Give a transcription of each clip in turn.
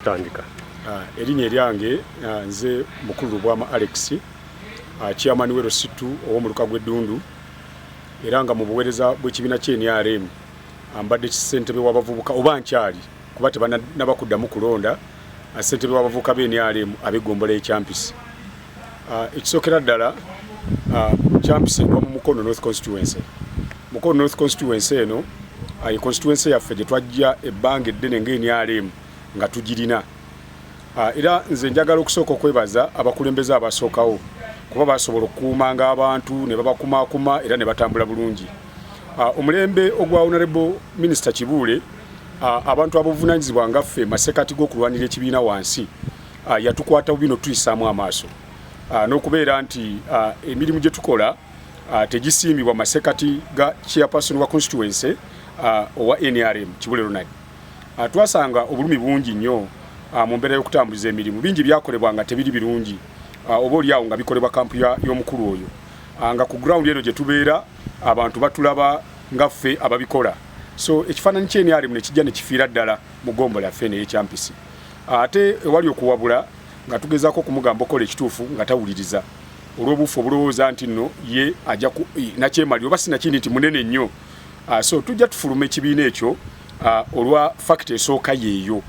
Tandika. Uh, erinnya eryange uh, nze mukulu lubwama alex uh, chairman we lusitu ow'omuluka gw'eddundu era nga mu buweereza bw'ekibiina kye nrm ambadde kisentebe w'abavubuka oba nkyali kuba tebanaba kuddamu kulonda uh, sentebe w'abavubuka be nrm ab'eggombolola y'ekyampisi uh, ekisookera ddala uh, kyampisi egwa mu mukono north constituency mukono north constituency eno uh, ye constituency yaffe gye twajja ebbanga eddene ng'enrm nga tugirina ah, era nze njagala okusooka okwebaza abakulembeze abasookawo kuba basobola okukuumanga abantu ne babakumaakuma era ne batambula bulungi ah, omulembe ogwa honorable minisita kibuule ah, abantu abuvunanyizibwa nga ffe masekati g'okulwanira ekibiina wansi yatukwata bubi notuyisaamu amaaso n'okubeera nti emirimu gye tukola tegisiimibwa masekati ga chairperson wa constituency owa nrm kibule ronald ah, twasanga obulumi bungi nnyo ah, mu mbeera y'okutambuliza emirimu bingi byakolebwa nga tebiri birungi ah, oba oli awo nga bikolebwa kampu y'omukulu oyo nga ku ground eno gye tubeera abantu batulaba nga ffe ababikola so ekifaananyi kye nrm ne kijja ne kifiira ddala mu gombo lyaffe naye ekyampisi ate ewali okuwabula nga tugezaako okumugamba okola ekituufu nga tawuliriza olw'obuufu obulowooza nti nno ye ajja nakyemalira oba sinakindi nti munene nnyo uh, so tujja tufuluma ekibiina ekyo uh, olwa fakiti esooka yeeyo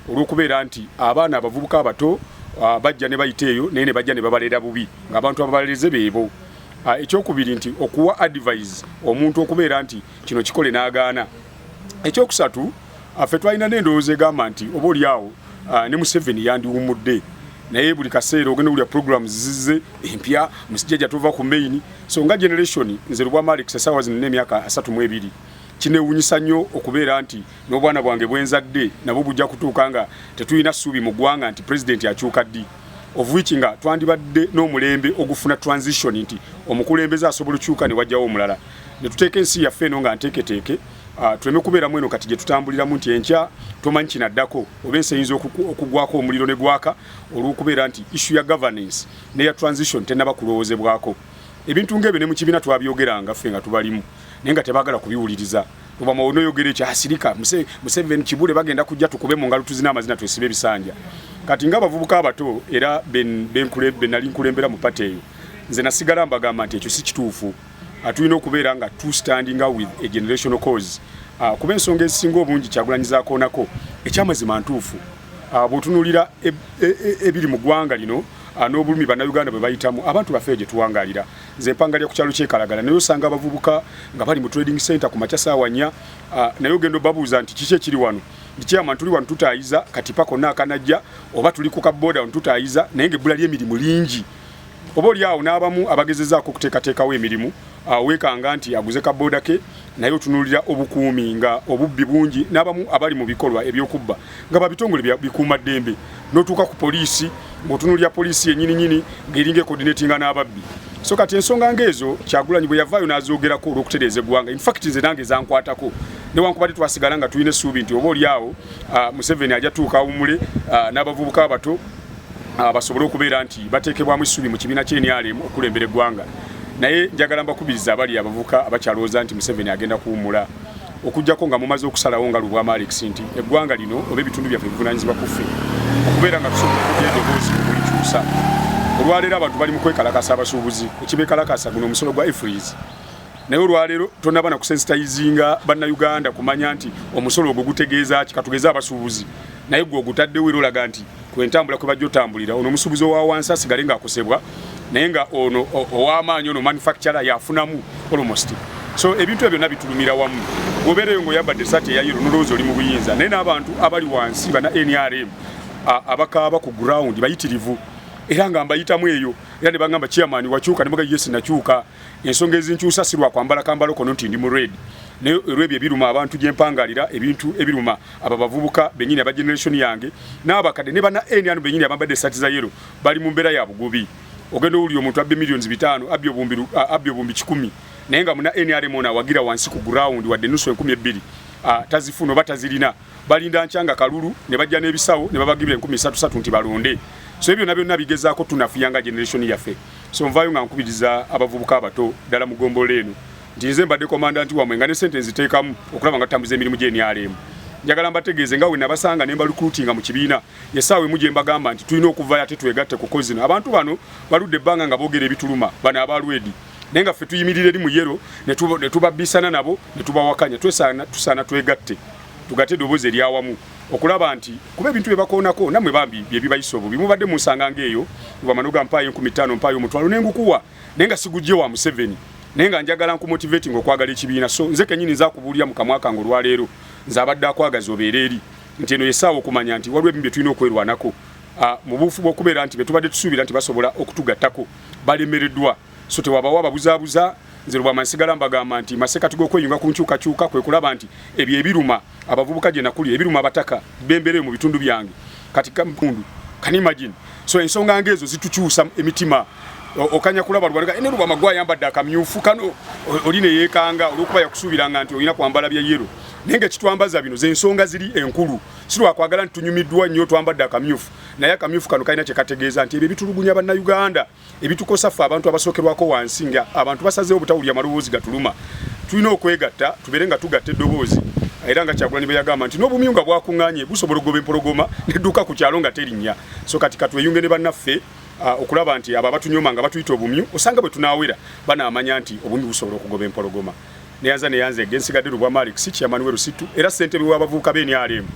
olw'okubeera nti abaana abavubuka abato uh, bajja ne bayita eyo naye ne bajja ne babalera bubi ng'abantu ababalereze beebo uh, ekyokubiri nti okuwa advise omuntu okubeera nti kino kikole n'agaana ekyokusatu Affe twalina n'endowooza egamba nti oba oli awo ah, ne Museveni yandiwumudde naye buli kaseera ogenda wulira programs zizze empya musijjaja tova ku main so nga generation nze lubwama alex esaawa zino n'emyaka asatu mu ebiri kinewunyisa nnyo okubeera nti n'obwana bwange bwenzadde nabwo bujja kutuuka nga tetulina ssuubi mu ggwanga nti pulezidenti akyuka ddi of which nga twandibadde n'omulembe ogufuna transition nti omukulembeze asobola okyuka ne wajjawo omulala ne tuteeka ensi yaffe eno nga nteeketeeke ah, tuleme kubeeramu eno kati gye tutambuliramu nti enkya tomanyi kinaddako oba ensi eyinza okugwako omuliro ne gwaka olw'okubeera nti issue ya governance neya transition tennaba kulowoozebwako ebintu ng'ebyo ne mu kibiina twabyogeranga ffe nga tubalimu naye nga tebaagala kubiwuliriza oba mawono oyogere kya asirika museveni kibule bagenda kujja tukube mu ngalo tuzina amazina twesibe ebisanja kati nga abavubuka abato era benali nkulembera mu pate eyo nze nasigala mbagamba nti ekyo si kituufu Ah, tulina okubeera nga two standinga with a generational cause ah, kuba ensonga ezisinga obungi kyagulanyizakoonako ekyamazima ntuufu ah, bwotunulira e, e, e, ebiri mu ggwanga lino n'obulumi bannayuganda bwe bayitamu abantu baffe gye tuwangalira nze mpangalira ku kyalo kyekalagala naye osanga abavubuka nga bali mu trading center ku makya saawanya naye ogenda obabuuza nti kiki ekiri wano ndikyama tuli wano tutaayiza kati pako naakanajja oba tuli ku kabooda wano tutaayiza naye ngaebbula ly'emirimu lingi oba oli awo n'abamu abagezezaako okuteekateekawo emirimu weekanga nti aguze kabooda ke naye otunuulira obukuumi nga obubbi bungi n'abamu abali mu bikolwa ebyokubba nga babitongole bikuuma ddembe n'otuuka ku poliisi ng'otunuulira poliisi yenyininyini ng'eringa ekodinetinga n'ababbi so kati ensonga ng'ezo kyagulanyi bwe yavaayo n'azoogerako olw'okutereeza eggwanga infact nze nange zankwatako newankubadde twasigala nga tulina essuubi nti oba oli awo museveni ajatuuka awumule n'abavubuka abato ah, basobole okubeera nti bateekebwamu essuubi mu kibiina kya NRM okulembera eggwanga naye njagala mbakubiriza abali abavuka abakyalowooza nti Museveni agenda kuwummula okujjako nga mumaze okusalawo nga lubwama Alex nti eggwanga lino oba ebitundu byaffe bivunaanyizibwa ku ffe okubeera nga tusobola okuja edoboozi okulikyusa olwaleero abantu bali mu kwekalakasa abasuubuzi ekibekalakasa guno omusolo gwa efries naye olwaleero tonaba na kusensitayizinga bannayuganda kumanya nti omusolo ogwo gutegeeza ki katugeeza abasuubuzi naye gwe ogutaddewo era olaga nti kwentambula kwe bajja otambulira ono omusuubuzi owa wansi asigale ng'akosebwa naye nga ono ow'amaanyi ono manufacturer yafunamu almost so ebintu ebyo byonna bitulumira wamu obeereyo ng'oyambadde esaati eya yero nolowooza oli mu buyinza naye n'abantu abali wansi bana nrm abakaaba ku ground bayitirivu era nga mbayitamu eyo era ne bagamba chairman wakyuka ne muga yes nakyuka ensonga ezinkyusa si lwa kwambala kambalo kono nti ndi mu red naye olwebyo ebiruma abantu gyempangalira ebintu ebiruma abo abavubuka benyini aba generation yange n'abakadde ne bana nrm benyini abambadde esaati za yero bali mu mbeera ya bugubi ogenda owulira omuntu abbe millions bitaano abbi obumbi kikumi naye nga muna nrm ono awagira wansi ku ground wadde nusu enkumi ebbiri tazifuna oba tazirina balinda nkyanga kalulu ne bajja n'ebisawo ne babagibira enkumi satu satu nti balonde so ebyo byonna byonna bigezaako tunafuya nga generation yaffe so nvaayo nga nkubiriza abavubuka abato ddala mu ggombolola eno nti nze mbadde komandanti wamwe nga ne sente nziteekamu okulaba nga tutambuza emirimu gy'enyaleemu njagala mbategeeze nga wenabasanga ne mbalukulutinga mu kibiina esaawa emu gye mbagamba nti tulina okuvayo ate twegatte kuko zino abantu bano baludde ebbanga nga boogera ebituluma bano abalwedi naye nga ffe tuyimirira eri mu yero ne tubabbisana nabo ne tubawakanya tusaana twegatte tugate eddoboozi eryawamu okulaba nti kuba ebintu byebakoonako namwe bambi byebibayisa obubi mubadde munsanga ngaeyo wamanoga mpaayo enkumi ttaano mpaayo omutwalo nengukuwa naye nga sigujje wa museveni naye nga njagala nkumotivating okwagala ekibiina so nze kenyini nza kubuulira mukamwa kange olwaleero nze abadde akwagaza obeera eri nti eno yesaawa okumanya nti waliwo ebimu bye tulina okwerwanako ah, mu buufu bw'okubeera nti betubadde tusuubira nti basobola okutugattako balemereddwa so tewabawo ababuzaabuza nze lubwama nsigala mbagamba nti masekati g'okweyunga ku nkyukakyuka kwe kulaba nti ebyo ebiruma abavubuka gye nakulira ebiruma abataka bembereyo mu bitundu byange kati kampundu can imagine so ensonga ngeezo zitukyusa emitima okanya kulaba lubalaga ene lubama gwa yambadde akamyufu kano oli ne yeekanga olwokuba yakusuubiranga nti olina kwambala bya yero naye nga kitwambaza bino zensonga ziri enkulu sirwakwagala nti tunyumiddwa nnyo twambadde akamyufu naye akamyufu kano kalina kyekategeeza nti ebyo bitulugunya bannayuganda ebitukosa ffe abantu abasookerwako wansi nga abantu basazeewo obutawulira maloboozi gatuluma tulina okwegatta tubeere nga tugatta eddoboozi era nga kyagulanyi beyagamba nti n'obumyu nga bwakuŋŋanye busobola okugoba empologoma nedduka ku kyalo nga terinnya so kati katweyunge ne bannaffe uh, okulaba nti abo abatunyoma nga batuyita obumyu osanga bwe tunaawera banaamanya nti obumyu busobola okugoba empologoma neyanza neyanza ege nsigadde lubwa malik si kiyamani we lusittu era ssentebe w'abavubuka b'enrm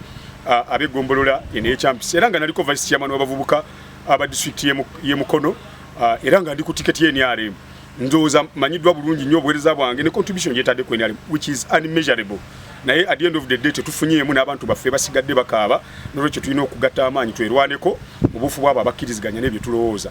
uh, ab'eggombolola eno ekyampisi era nga naliko vice kiyamani w'abavubuka aba district ye Mukono uh, era nga ndi ku ticket ye NRM ndoza manyidwa bulungi nyo obwereza bwange ne contribution je tade ku NRM which is unmeasurable naye at the end of the day tetufunye emu n'abantu baffe basigadde bakaaba nolwekyo tulina okugatta amaanyi twerwaneko mu bufu bwabo abakkiriziganya n'ebyo tulowooza